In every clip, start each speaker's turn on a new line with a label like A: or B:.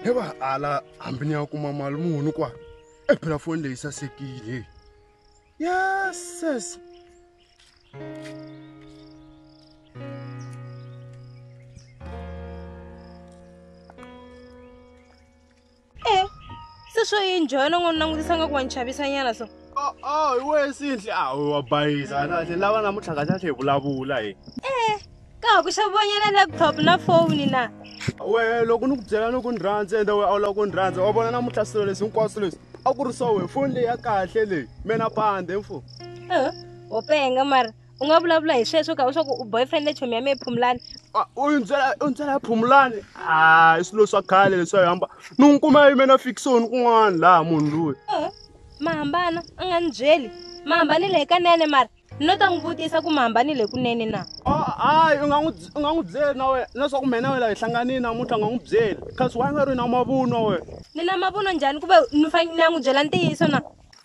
A: he va ala hambi ni ya kuma mali muni kwa e phela foni leyi sasekile yeses
B: e se swo yi njhona n'wi langutisa nga ku wa ni chavisa nyana so a hi wehe
A: sinhle a wa bayisa nahle lava namuntlha ka tlhatlhe hi vulavula hi e
B: ka ha ku xavonyela laptop na foni na wehe loko ni
A: ku byela ni ku ni rhandza ende wehe a wu lava ku ni rhandza wa vona namuntlha swilo leswi hinkwaswo leswi a ku ri swa wehe foni leyi ya kahle leyi mena pande mfo wo
B: penga mara u nga vulavula hi sweswo ka u swa ku u boyfriend chomi ya mehe phumulani u ni byela u ni
A: byela ya phumulani a i swilo swa khale leswi a yi hamba ni n'wi kuma yi mena fikisoni kun'wana laha munhu loyi ma hambana
B: a nga ni byeli ma hambanile hikanene mara ni lo ta n'wi vutisa ku mi hambanile kunene na hayi u nga
A: n'wi u nga n'wi byeli na wena leswaku mina na wena hi hlanganile namuntlha u nga n'wi byeli kasi wa nga ri na mavunwa wena ni na mavunwa njhani
B: ku ve ni fanele ni ya n'wi byela ntiyiso na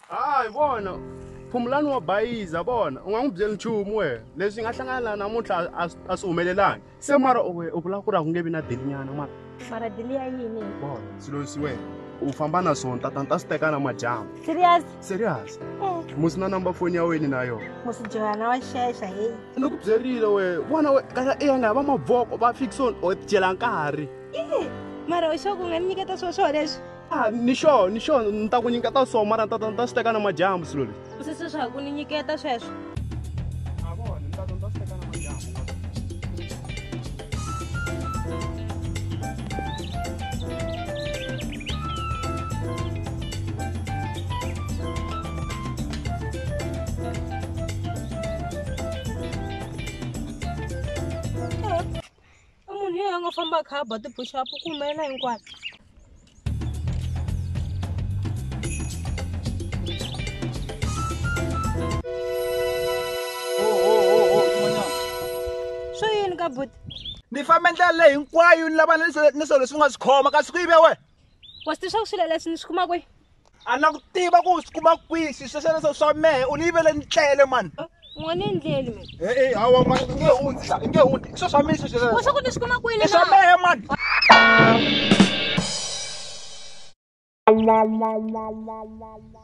B: hayi vona
A: phumulani wa bayiza vona u nga n'wi byeli nchumu wena leswi nga hlangana namuntlha a swi humelelangi se mara we u vula ku ri a ku nge vi na delinyana mara mara deli ya
B: yini bon swilo leswi
A: wena u famba na swona tata ni ta swi teka na madyambu serious serious Eh. musi na number foni ya wena na yona musijoyana wa
B: xexa heyi ni ku byerile
A: we vona we kaya i ya nga va mavoko va fixon o dyela nkarhi mara
B: u xo ku nga ni nyiketa swo swo leswi Ah, ni sure ni
A: sure ni ta ku nyiketa so mara ni ta ni ta swi teka na madyambu swilo leswi u sise swa ku ni nyiketa
B: sweswo a
A: vona ni ta ni ta swi teka na madyambu
B: i munhu yeyi a nga famba a kha a ba tibuxapu ku humelela hinkwayo swo yini ka buti ni fambe ndlela
C: leyi hinkwayo ni lava ni swilo leswi nga swi khoma kasi ku yive wena wa swi tiva swa
B: ku swilo leswi ni swi kuma kwihi a na ku tiva
C: ku swi kuma kwihi swi swesweleswo swa mehe u ni yivele ni tlele mani n'wana endleli
B: mi e-e hawa ma i nge
C: hundzi i nge
B: hundzi i swo swa mina swesweleswo swa ku ni
C: swi kuma kwihi i swa mehe mani